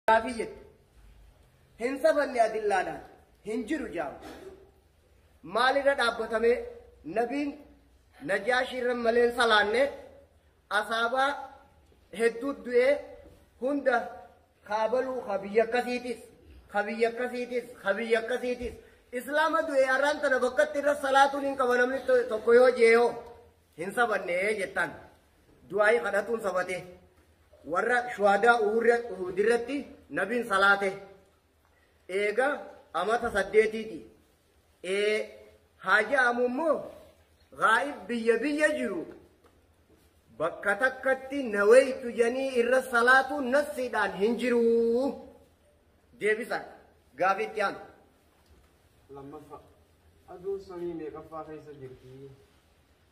Gaafii jettu. Hin safanne adillaadhaan. Hin jiru jaama. Maalirra dhaabbatamee nabiin najaashiirra malee hin salaanne asaabaa hedduu du'ee hunda kaabaluu ka biyya akkasiitis ka biyya akkasiitis ka biyya akkasiitis islaama du'ee har'aan tana bakkatti irra salaatuun hin qaba namni to- tokko yoo jeeyoo hin safanne jettaan. Du'aa'ii kadhatuun sabate. Warra shuhadaa uhudirratti nabiin salaate. Eega amata saddeetiiti. Ee haa ja'amu immoo gaa'ib biyya biyya jiru bakka takkatti naweeytu janii irra salaatu nassiidhaan hin jiru. Deebisa gaafii itti aanu. lammaffaa aduun samii meeqaffaa keessa jirti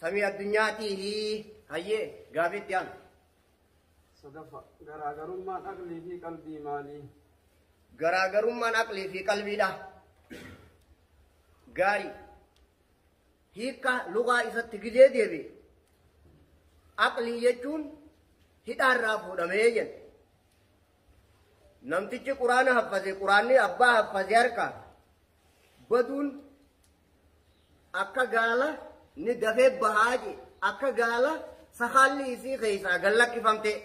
Samii addunyaa tiihi. Hayyee gaafii itti aanu. Sadaffa garaagarummaan aqlii fi qalbii maalii? Garaagarummaan aqlii fi qalbiidha. Gaarii. Hiikka lugaa isatti gidee deebi'e. Aqlii jechuun hidhaarraa fuudhamee jenna. Namtichi quraana haffase quraanni abbaa haffase harkaa baduun Akka gaala ni dafee bahaa jee akka gaala sakaalli isii keessaa gad lakkifamtee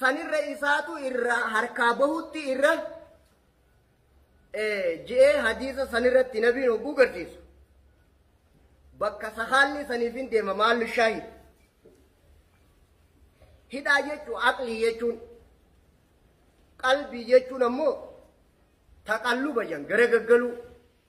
sanirra isaatu irraa harkaa bahutti irra je'ee hadiisa sanirratti nabiin hogguu garsiisu bakka sakaalli saniif hin deema maallu shaahid hidhaa jechuu aqlii jechuun qalbii jechuun ammoo taqalluba jan gara gaggaluu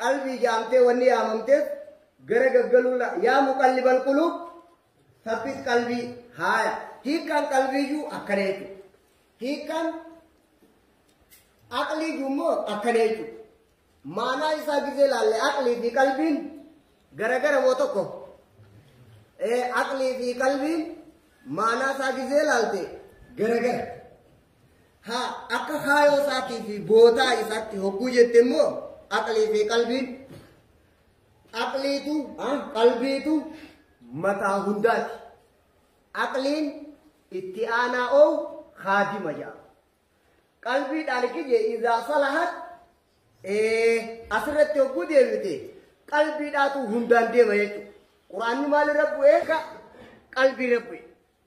Qalbii jaamtee wanni yaamamteef gara gaggaluurra yaa muqallibal quluub sabbit qalbii haaya hiikkaan qalbiiyyuu akkana jechuudha. Hiikkaan aqliiyyuu immoo akkana jechuudha. Maanaa isaa gisee laalle aqlii fi qalbiin garagara moo tokko aqlii fi qalbiin maanaa isaa gisee laalte garagara. Haa akka kaayoo isaatii fi bootaa isaatti hogguu jette immoo aqlii fi qalbiin aqliitu ah, qalbiitu mataa hundaati. Aqliin itti aanaa oo haadima jedhama. Qalbiidhaan kiyye izaa salahat ee, asirratti hogguu deemite qalbiidhaatu hundaan deema jechuudha. Quraanni maalirra bu'ee? Ka- Qalbiirra bu'e.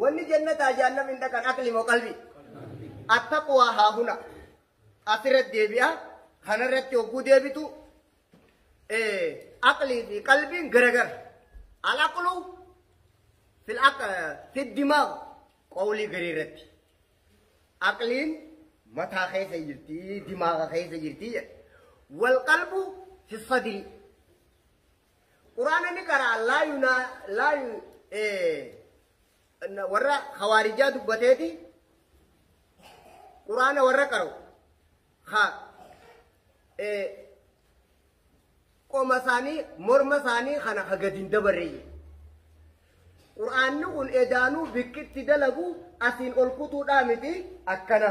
Wanni jannataa jaannam hin dhaqan aqli moo qalbi? Attaqwaa haa huna. Asirratti deebi'a. Kanarratti hogguu deebitu aqlii fi qalbiin garagara. Alaqlu fi dimaa qawlii garii irratti. Aqliin mataa keessa jirti, dimaaga keessa jirti jedha. Wal qalbu fi sadrii. Quraana ni qara'an laa yunaa laa yu eh, warra hawaarijaa dubbateeti quraana warra qara'u ha eh, qoma isaanii morma isaanii kana ha gadi hin dabarreeyye quraanni kun edaanuu bikkitti dalagu asiin ol kutuudhaa miti akkana.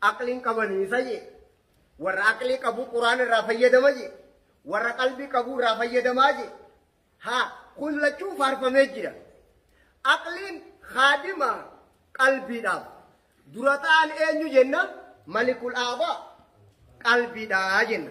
Aqli hin qabani isa je. Warra aqli qabu Qur'aan irraa fayyadama je. Warra qalbii qabu irraa fayyadamaa je. Ha kun lachuu faarfamee jira. Aqliin haadima qalbiidhaaf. Dura ta'an eenyu jenna malikul aabaa qalbiidhaa jenna.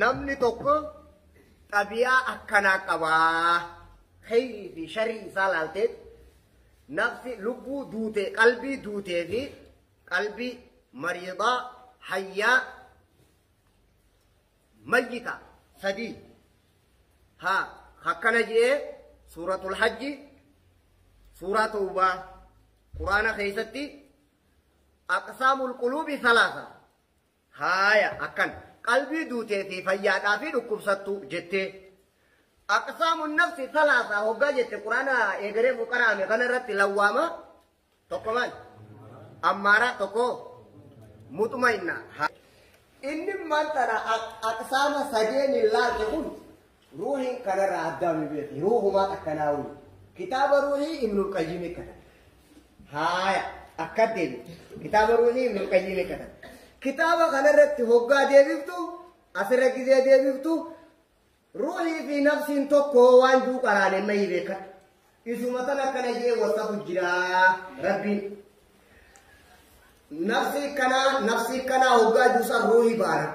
Namni tokko xabiyaa akkanaa qabaa kheyrii fi sharrii isaa laalteet nafsi lubbuu duutee qalbii duutee fi qalbii mariidaa hayyaa mayyita sadii haa akkana je'ee suuratul hajji suuraa tawbaa quraana keessatti aqsaamul quluubi salaasa Haaya akkana. Qalbii duutee fi fayyaadhaa fi dhukkubsattuu jettee. Aqsaamun nafsi salaasa hoggaa jette quraana eegareefu qaraame kana irratti lawwaama tokko maal? Ammaara tokko muxumainna. Inni maal tana aqsaama sadeen hin laalte kun Ruuhiin kanarraa addaa nu beekti. Ruuhumaa takkanaa wayii. Kitaaba ruuhii Ibnul Qayyimii katan. Haaya akka deebitu. Kitaaba ruuhii Ibnul Qayyimii katan. Kitaaba kanarratti hoggaa deebiftu asirra gizee deebiftu ruuhii fi nafsiin tokko waan juu qaraanee mayii beekata. Isuma tan akkana jee wasafu jiraa rabbiin. Nafsii kanaa nafsii kanaa hoggaa duusan ruuhii baana.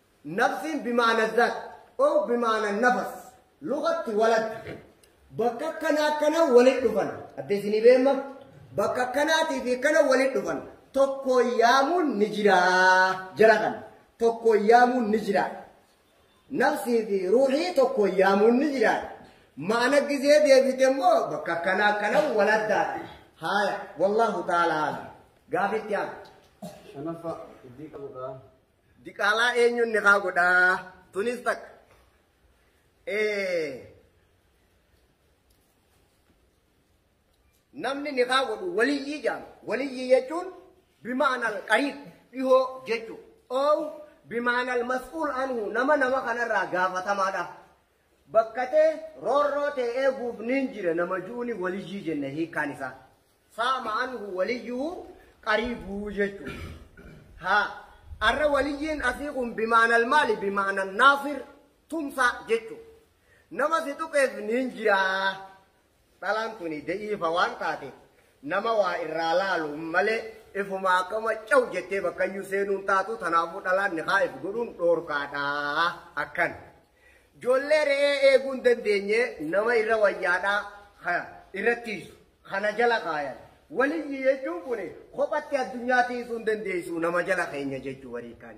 Nafsiin bimaana zat ow bimaana nafas lugatti walad bakka akkana akkana walit dhufan adda isinii beemma bakka akkanaatii fi akkana walit dhufan tokko yaamuun ni jiraa jara kan tokko yaamuun ni jiraa nafsii fi ruuxii tokko yaamuun ni jiraa maana gizee deebite immoo bakka akkana akkana waladdaadha haaya wallaahu ta'ala alam gaafitti haala shanaffaa iddii qabudha Diqaalaa eenyuun nikaa godhaa? Tunis takka. Eh, Namni nikaa godhu waliyyii jedhama. Waliyyii jechuun bimaanal qariib dhihoo jechuudha. Oow bimaanal mas'uul anhu nama nama kanarraa gaafatamaadha. Bakka ta'e roorroo ta'e eeguuf niin jira nama ju'uni waliyyii jenna hiikaan isaa. Saama anhu waliyyuhu qariibuu jechuun. Ha arra waliyyiin asii kun bimaanal maali bimaanan naasir tumsaa jechuun. Nama si tuqeef niin jiraa. Dhalaan tuni da'iifa waan taate nama waa irraa laalu malee ifuma akkama caw jettee bakkayyuu seenuun taatu tanaafuu dhalaan nikaa if godhuun dhoorkaadha akkan. Joollee re'ee eeguun dandeenye nama irra wayyaadha irrattiisu. kana jala kaayan. Waliyyi jechuun kun kophatti addunyaa tiisuu hin dandeessu nama jala keenya jechuu warii kaan.